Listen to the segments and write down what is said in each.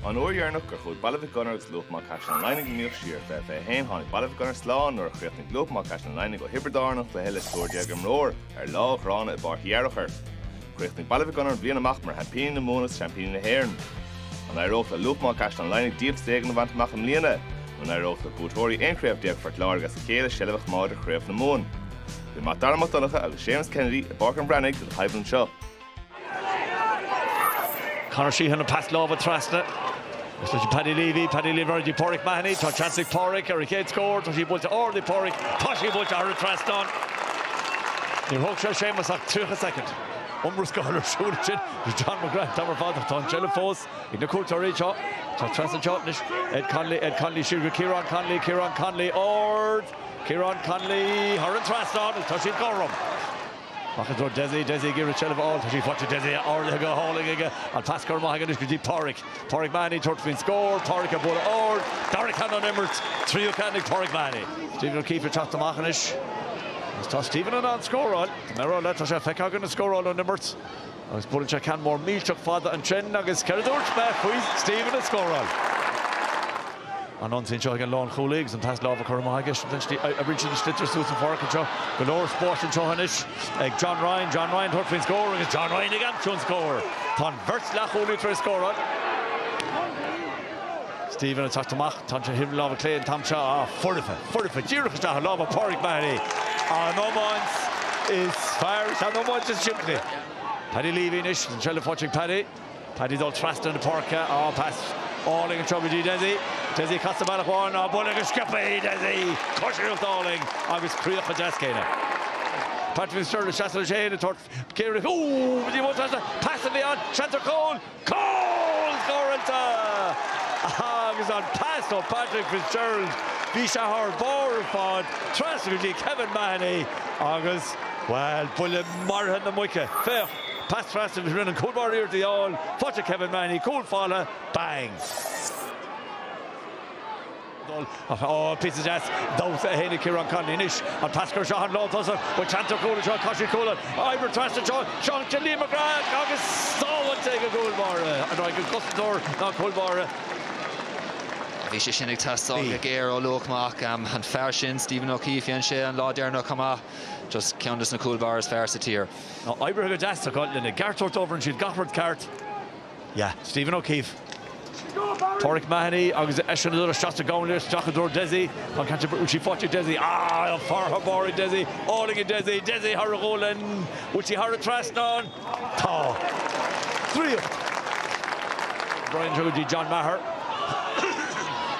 An uair dheireanach gur chuaigh Baile Mhic Gonair agus Luach Maigh Caisleán an Laighnigh in iomaíocht siar fiche fiche haon tháinig Baile Mhic Gonair slán nuair a chríochnaigh Luach Maigh Caisleán an Laighnigh ó Thiobraid Árann an chluiche le triúr déag imreoir ar lá ghránna i bPáirc Uí Fhearchair. Chríochnaigh Baile Mhic Gonair an bhliain amach mar sheaimpíní na Mumhan agus seaimpíní na hÉireann. An éireoidh le Luach Maigh Caisleán an Laighnigh díoltas éigin a bhaint amach i mbliana? Nó an éireoidh le buaiteoirí aon chraobh déag Phort Láirge as a chéile seilbh a choimeád ar Chraobh na Mumhan? Bhí Mac Dara Mac Donncha agus Séamus Kennedy i bPáirc an Bhreathnaigh le haghaidh anseo. Conor Sheahan an pas láimhe trasna. Is leis Paddy Leavey, Paddy Leavey ar aghaidh Pauric Mahony. Tá seans ag Pauric ar a chéad scór. Tá sí buailte ard ag Pauric. Tá sí buailte thar an trasnán. Níor thóg sé Séamus ach 30 soicind. Iomrascáil ar siúl ansin le John McGrath. Tamall fada, tá an tseilbh fós ag na cuairteoirí. Tá seans anseo anois. Ed Connolly, Ed Connolly siar go Ciarán Connolly, Ciarán Connolly ard. Ciarán Connolly thar an trasnán agus tá siad cothrom. Amach i dtreo Dessie, Dessie ag iarraidh seilbh a fháil. Tá sí faighte ag Dessie, ardaithe go hálainn aige. An pas curtha amach aige anois go dtí Páraic. Páraic Mahony ag tabhairt faoin scór. Páraic ag bualadh ard. Dara ceann ón imirt. Tríú ceann ag Páraic Mahony. Stephen O'Keeffe ag teacht amach anois. Agus tá Stephen in ann scóráil. Tá mé á rá leat, tá sé feicthe againn ag scóráil ón imirt. Agus buaileann sé ceann mór millteach fada ansin agus céard a dúirt mé faoi Stephen ag scóráil? An ionsaí anseo ag an lánchúlaí agus an pas láimhe curtha amach aige, oibríonn siad an sliotar suas an pháirc anseo, go leor spáis anseo anois ag John Ryan, John Ryan tabhairt faoin scór agus John Ryan ag aimsiú an scóir! Tá an bheirt leathchúlaí tar éis scóráil. Stephen ag teacht amach, tá sé ar thaobh na láimhe clé an t-am seo, ah, foirfe, foirfe, díreach isteach i lámha Páraic Mahony, an iomáint is fearr is an iomáint is simplí. Paddy Leavey anois, an seilbh faighte ag Paddy, Paddy ag dul trasna na páirce, ah, pas álainn anseo go dtí Dessie, Dessie ag casadh bealach amháin, ah, buille go sciobtha ag Dessie! Coisíocht álainn agus críoch an-deas aige. Patrick Fitzgerald ag seasamh leis fhéin, ag tabhairt. Ciarraí, Ooh! Ní mó seans a pas a bhí ann, seans ar chúl! Cúl scóráilte! Agus an pas ó Patrick Fitzgerald, bhí sé thar barr ar fad, trasna go dtí Kevin Mahony agus, bhuel, buille maraithe na muice. Féach, pas trasna agus rinne an cúlbáire iarracht í a fháil, faighte ag Kevin Mahony, cúl folamh, bang! dul ach píosa deas damhsa ansin ó Ciarán Connolly anois, an pas curtha anseo, an lántosaí, bhuel tá seans ar chúl anseo, cois a chúil oibre, trasna anseo, seans ag Liam McGrath agus sábháilte ag an gcúlbáire, an raibh ag an gcosantóir nó an cúlbáire? Bhí sé sin ag teastáil go géar ó Luach Maigh, an fear sin Stephen O'Keeffe, dhein sé an lá deireanach chomh maith, just ceann des na cúlbáirí is fearr sa tír. Oibrithe go deas acu lena gceart a thabhairt dóibh, rinne siad gach rud ceart. Yeah. Stephen O'Keefe. Pauric Mahony agus eisean ag tabhairt isteach sa gcúinne, isteach i dtreo Desi. Tá an ceann sin faighte ag Desi. Ah, an fear thar barr ag Desi. Álainn ag Desi. Desi thar a ghualainn. Bhfuil sí thar an trasnán? Tá. Draíocht. Brian anseo go dtí John Meagher.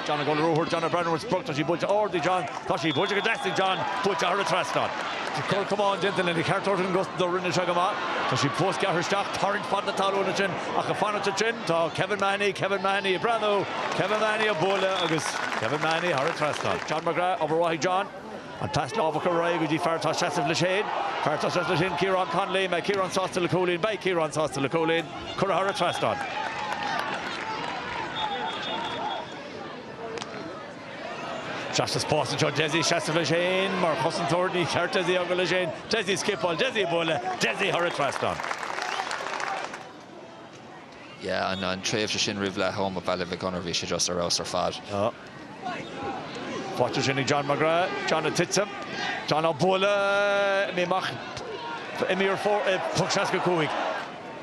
John ag dul ar ruathar. John ag breathnú ar an sprioc. Tá sí buailte ard ag John. Tá sí buailte go deas ag John. Buailte thar an trasnán. Cur chomh maith déanta lena cheart a thabhairt don gcosantóir rinne sé go maith. Tá sí fós curtha isteach, tarraingt fan na talún ansin ach ag fanacht ansin tá Kevin Mahony, Kevin Mahony ag breathnú, Kevin Mahony á bualadh agus Kevin Mahony thar an trasnán. John McGrath, obair mhaith ag John. An pas láimhe curtha ar aghaidh go dtí fear atá ag seasamh leis féin, fear atá leis féin, Ciarán Connolly, mbeidh Ciarán sásta le cúilín, beidh Ciarán sásta le cúilín, curtha thar an trasnán. Sheas sa spás anseo. Dessie ag seasamh leis féin. Mar chosantóir ní ceart Dessie a fhágáil leis féin. Dessie ag scipeáil. Dessie ag bualadh. Dessie thar an trasnán. yeah an an tréimhse sin roimh leath am ó Baile Mhic Gonair bhí sé just ar fheabhas ar fad. Faighte ansin ag John McGrath. John ag titim. John á bualadh. Imíonn amach. Imíonn ar fóraoil. Poc 65.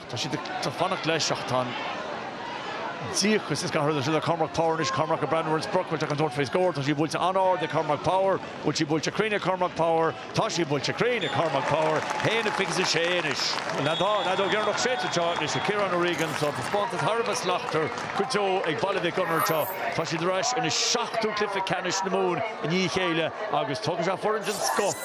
Ach tá siad ag fanacht leis, ach tá an díocas is gach rud ag Cormac Power anois, Cormac ag breathnú ar an sprioc bhfuil sé chun tabhairt faoi scór, tá sí buailte an-ard ag Cormac Power, bhfuil sí buailte cruinn ag Cormac Power? Tá sí buailte cruinn ag Cormac Power, haon a fiche is a sé anois. An fheadóg dheireanach séidte anseo anois ag Ciarán O'Regan, tá taispeántas thar a bheith slachtmhar go deo ag Baile Mhic Gonair anseo, tá siad ar ais ina seachtú cluiche ceannais na Mumhan i ndiaidh a chéile agus tógfaidh sé foireann den scoth.